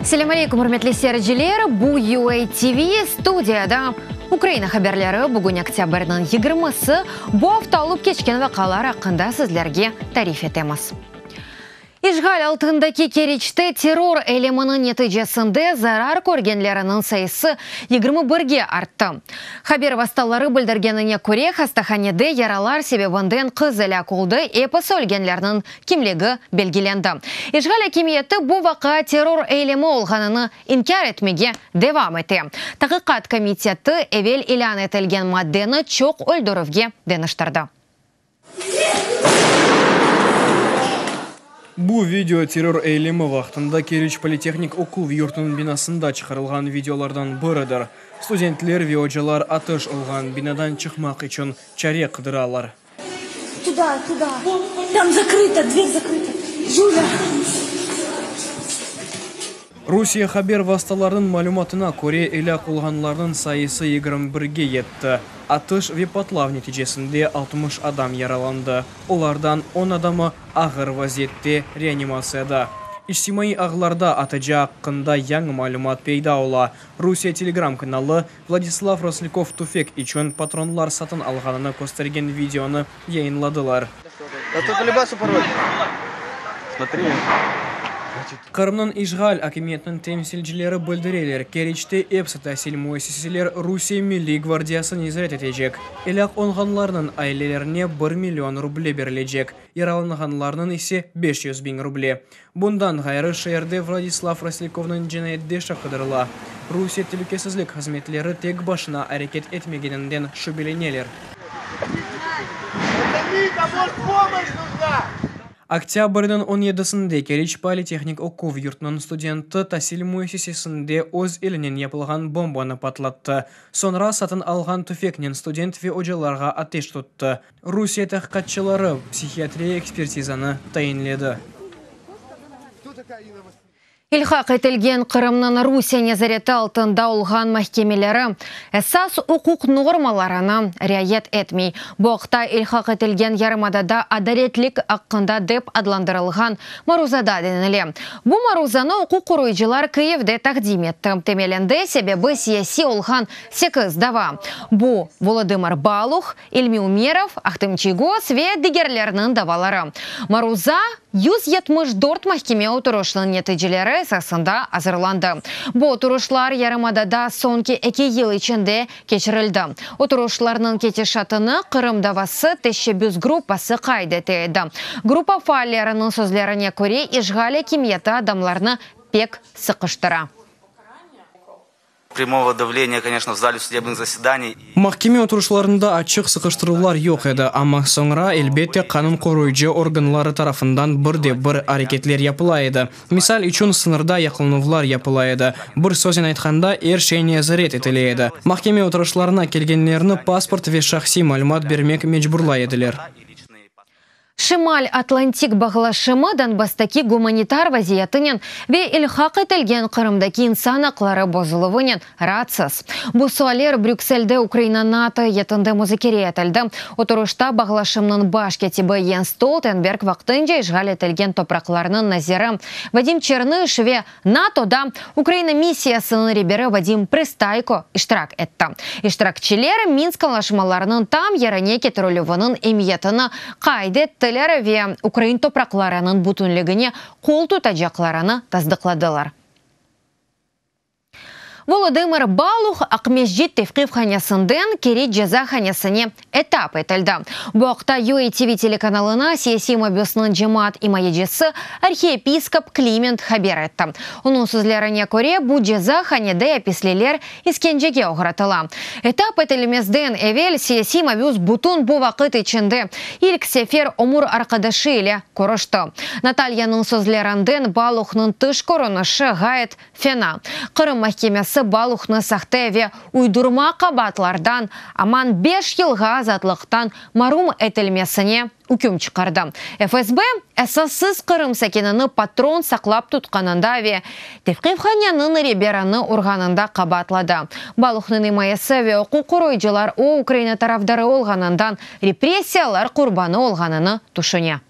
Selâm aleykum, ürmetli seyirciler! Bu UA TV, studiyada Ukraina haberleri. Bugün oktâbrniñ yigirmisi. Bu afta olıp keçken vaqalar aqqında sizlerge tarif etemiz. İşğal altındaki Keriçte terror eyleminiñ neticesinde zarar körgenleriniñ sayısı yigirmi birge arttı. Haber vastaları bildirgenine köre, hastahanede yaralar sebebinden qız elâk oldı, episi ölgenlerniñ kimligi belgilendi. İşğal akimiyeti bu vaqia terror eylemi olğanını inkâr etmege devam ete. Taqiqat komiteti evel ilân etilgen maddeni çoq öldürüvge deñiştirdi. Bu video terror eylemi vaqtında Keriç politehnik oquv yurtunıñ binasında çıqarılğan videolardan biridir. Studentler ve ocalar atış olğan binadan çıqmaq içün çare qıdıralar. Rusiye haber vastalarınıñ malümatına köre, elâk olğanlarnıñ sayısı yigirmi birge yetti. Atış ve patlav neticesinde altmış adam yaralandı, olardan on adamı ağır vaziyette reanimatsiyada. İçtimaiy ağlarda ataca aqqında yañı malümat peyda ola. Rusiye Telegram kanalı Vladislav Roslykov tüfek içün patronlar satın alğanını köstergen videonı yayınladılar. Qırımnıñ işğal akimiyetiniñ temsilcileri bildireler, Keriçte episi tasil müessiseler Rusiye milliy gvardiyası nezaret etecek. Elâk olğanlarnıñ ailelerine bir million ruble berilecek, yaralanğanlarnıñ ise beş yüz biñ ruble. Bundan ğayrı, şeerde Vladislav Roslykovnıñ cinayetdeş aqıdırıla. Rusiye telükesizlik hızmetleri tek başına areket etmegeninden şübeleneler. Oktâbrniñ on yedisinde Keriç politehnik oquv yurtunıñ studenti tasil müessisesinde öz elinen yapılğan bombanı patlattı, soñra satın alğan tüfeknen student ve ocalarğa ateş tuttı. Rusiye tahqiqatçıları psihiatriya ekspertizanı tayinledi. İlhaq etilgen Qırımnıñ Rusiye nezareti altında olğan mahkemeleri esas uquq normalarına riayet etmey. Bu aqta ilhaq etilgen yarımadada adaletlik aqqında dep adlandırılğan maruzada denile. Bu maruzanı uquq qoruyıcılar Kyivde taqdim etti. Temelinde sebebi siyasiy olğan sekiz dava, bu, Volodımır Baluh, İlmi Umerov, Ahtem Çiygoz ve digerlerniñ davaları, maruza yüz yetmiş dört mahkeme oturışnıñ neticeleri esasında azırlandı. Bu oturışlar yarımadada soñki eki yıl içinde keçirildi. Oturışlarnıñ ketişatını Qırım davası teşşebbüs gruppası qayd ete edi. Gruppa faalleriniñ sözlerine köre, işğal akimiyeti adamlarnı pek sıqıştıra. Primovo davleniye, koneşno, v zali sudebnıñ zasedaniy. Mahkeme oturışlarında açıq sıqıştıruvlar yoq edi, amma soñra, elbette, qanun qoruyıcı organları tarafından bir de bir areketler yapıla edi. Misal içün, sıñırda yaqlanuvlar yapıla edi. Bir söznen aytqanda, er şey nezaret etile edi. Mahkeme oturışlarına kelgenlerni pasport ve şahsiy malümat bermek mecburlay ediler. Şimal Atlantik Bağlaşımı Donbasstaki gumanitar vaziyetinen ve ilhaq etilgen Qırımdaki insan aqları bozuluvınen raatsız. Bu sualler Brükselde Ukraina NATO eyyetinde muzakere etildi. Oturışta Bağlaşımnıñ baş kâtibi Yens Stoltenberg vaqtınca işğal etilgen topraqlarnıñ naziri Vadim Çernış ve NATOda Ukraina missiyasınıñ reberi Vadim Pristayko iştirak etti. İştirakçiler Minsk añlaşmalarınıñ tam yerine ketirilüviniñ emiyetini qayd ettiler ve ukrain topraqlarınıñ bütünligine qol tutacaqlarını tasdıqladılar. Volodımır Baluh Aqmescit tevqifhanesinden Keriç cezahanesine etap etildi. Bu aqta UATV telekanalına siyasiy mabüsniñ cemaat imayecisi, arhiyepiskop Kliment haber etti. Onıñ sözlerine köre, bu ceza hanede apisliler iskencege oğratıla. Etap etilmezden evel siyasiy mabüs bütün bu vaqıt içinde ilk sefer ömür arqadaşı ile körüşti. Natalyanıñ sözlerinden, Baluhnıñ tış körünişi ğayet Fena. Qırım mahkemesi Baluhnı sahte ve uydurma qabaatlardan aman beş yılğa azatlıqtan marum etilmesine üküm çıqardı. FSB, esassız Qırım sakinini patron saqlap tutqanında ve tevqifhaneniñ reberini urğanında qabaatladı. Baluhnıñ imayesi ve uquq qoruyıcılar o Ukraina tarafdarı olğanından repressiyalar qurbanı olğanını tüşüne.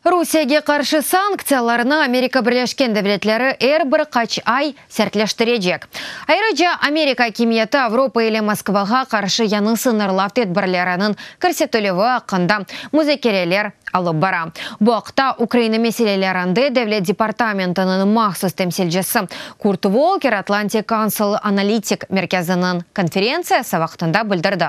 Rusiyege qarşı sanktsiyalarnı Amerika Birleşken Devletleri er bir qaç ay sertleştirecek. Ayrıca, Amerika akimiyeti Avropa ile Moskvağa qarşı yañı sıñırlav tedbirleriniñ kirsetilüvi aqqında muzakereler alıp bara. Bu aqta Ukraina meselelerinde Devlet departamentiniñ mahsus temsilcisi Kurt Volker Atlantic Council analitik merkeziniñ konferentsiyası vaqtında bildirdi.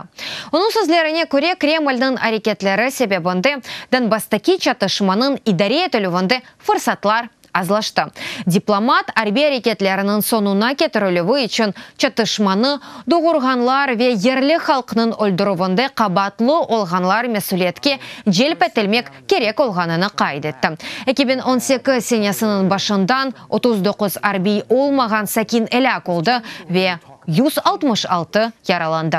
Onıñ sözlerine köre, Kremlniñ areketleri sebebinde Donbasstaki çatışmanıñ idare etilüvinde fırsatlar azlaştı. Diplomat, arbiy areketleriniñ soñuna ketirilüvi içün çatışmanı doğurğanlar ve yerli halqnıñ öldürüvinde qabaatlı olğanlar mesüliyetke celp etilmek kerek olğanını qayd etti. Eki biñ on sekiz senesiniñ başından otuz doquz arbiy olmağan sakin elâk oldı ve Yüz altmış altı yaralandı.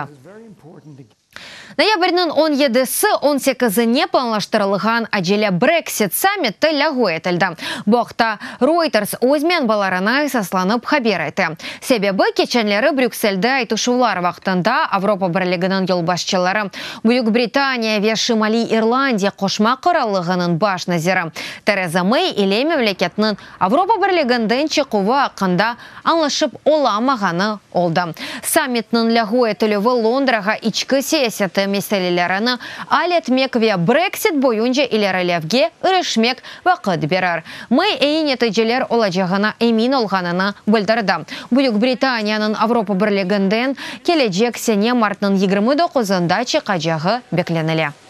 Noyabrniñ on yedisi, on sekizine planlaştırılğan acele Brexit sammiti lâğu etildi. Bu aqta Reuters öz menbalarına esaslanıp haber ete. Sebebi, keçenleri Brükselde aytışuvlar vaqtında Avropa Birliginiñ yolbaşçıları, Büyük Britaniya ve Şimaliy İrlandiya Qoşma Qırallığınıñ baş naziri Tereza Mey ile memleketniñ Avropa Birliginden çıquvı aqqında añlaşıp olamağanı oldı. Sammitniñ lâğu etilüvi Londrağa içki siyaseti meselelerini al etmek ve Brexit boyunca ilerilevge irişmek vaqıt berir. May eyi neticeler olacağına emin olğanını bildirdi. Büyük Britaniyanıñ Avropa Birliginden kelecek sene martnıñ yigirmi doquzında çıqacağı beklenile.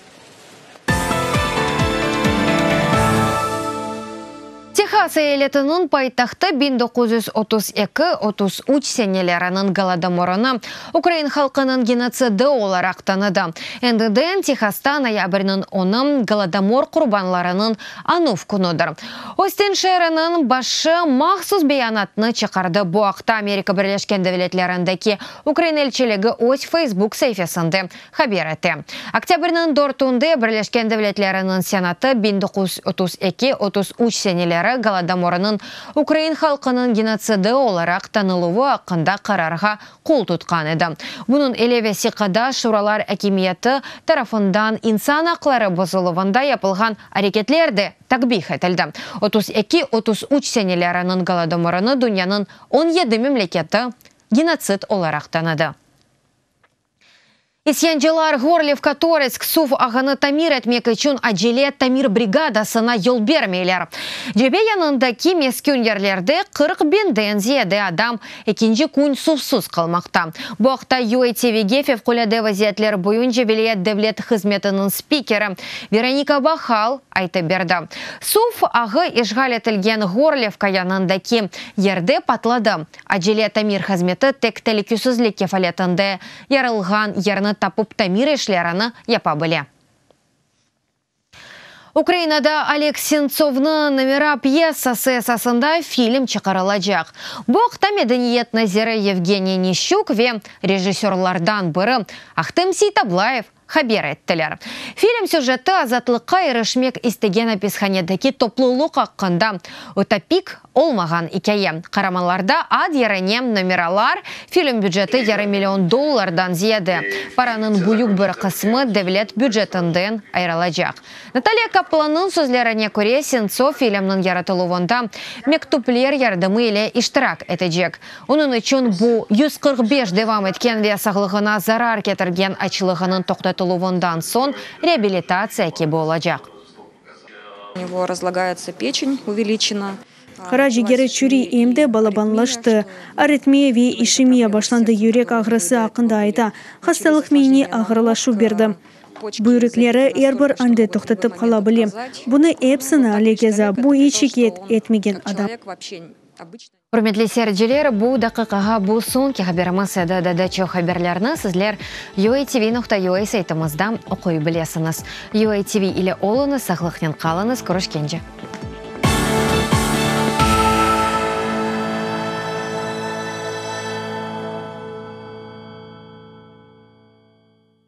Tehas eyaletiniñ paytahtı biñ doquz yüz otuz eki, otuz üç seneleriniñ Golodomorını ukrain halqınıñ genotsidi olaraq tanıdı. Endi de Tehasta noyabrniñ onı Golodomor qurbanlarınıñ añuv künüdir. Ostin şeeriniñ başı mahsus beyanatnı çıqardı, bu aqta Amerika Birleşken Devletlerindeki Ukrain elçiligi öz Facebook saifesinde Haber ete. Oktâbrniñ dörtünde Birleşken Devletleriniñ Senatı biñ doquz yüz otuz eki, otuz üç seneleri Golodomorınıñ ukrain halqınıñ genotsidi olaraq tanıluvı aqqında qararğa qol tutqan edi. Bunıñ ile vesiqada şuralar akimiyeti tarafından insan aqları bozuluvında yapılğan areketler de takbih etildi. Otuz eki, otuz üç seneleriniñ Golodomorını dünyanıñ on yedi memleketi genotsid olaraq tanıdı. İsyancılar Horlivka-Toretsk suv ağını tamir etmek içün acele tamir brigadasına yol bermeyler. Cebe yanındaki meskün yerlerde qırq biñ den ziyade adam ekinci kün suvsız qalmaqta. Bu aqta UATVge fevqulâde vaziyetler boyunca vilâyet devlet hızmetiniñ spikeri Veronika Bahal aytıp berdi. Suv ağı işğal etilgen Horlivka yanındaki yerde patladı, Acele tamir hızmeti tek telüküsizlik kefaletinde yarılğan yerni tapıp tamir işlerini yapa bile. Ukrainada Oleg Sentsovnıñ Nomera pyessası esasında film çıqarılacaq. Bu aqta medeniyet naziri Yevgeniy Nişçuk ve rejissörlardan biri Ahtem Seytablayev haber ettiler. Film süjeti azatlıqqa irişmek istegen apishanedeki toplulıq aqqında ütopik olmağan ikâye. Qaramanlarda ad yerine nomeralar, film büceti yarım million dollardan ziyade, paranıñ büyük bir qısmı devlet bücetinden ayırılacaq. Natalya Kaplannıñ sözlerine köre, Sentsov filmniñ yaratıluvında mektüpler yardımı ile iştirak etecek. Onıñ içün bu, yüz qırq beş devam etken ve sağlığına zarar ketirgen açlığınıñ toqtatıluvından soñ reabilitatsiya kibi olacaq. Qara cigeri çüri, em de balabanlaştı. Aritmiya ve işemiya başlandı, yürek ağrısı aqqında ayta. Hastalıq miyni ağırlaşuv berdi. Büyrekleri er bir anda toqtatıp qala bile. Bunı epsini Alegeza, bu iç şikâyet etmegen adam. Ürmetli seyirciler, bu daqiqağa bu soñki haberimiz edi. Daa çoq haberlerni sizler UATV nokta UA saytımızda oquy bilesiñiz. UATV ile oluñız, sağlıqnen qalıñız, körüşkence!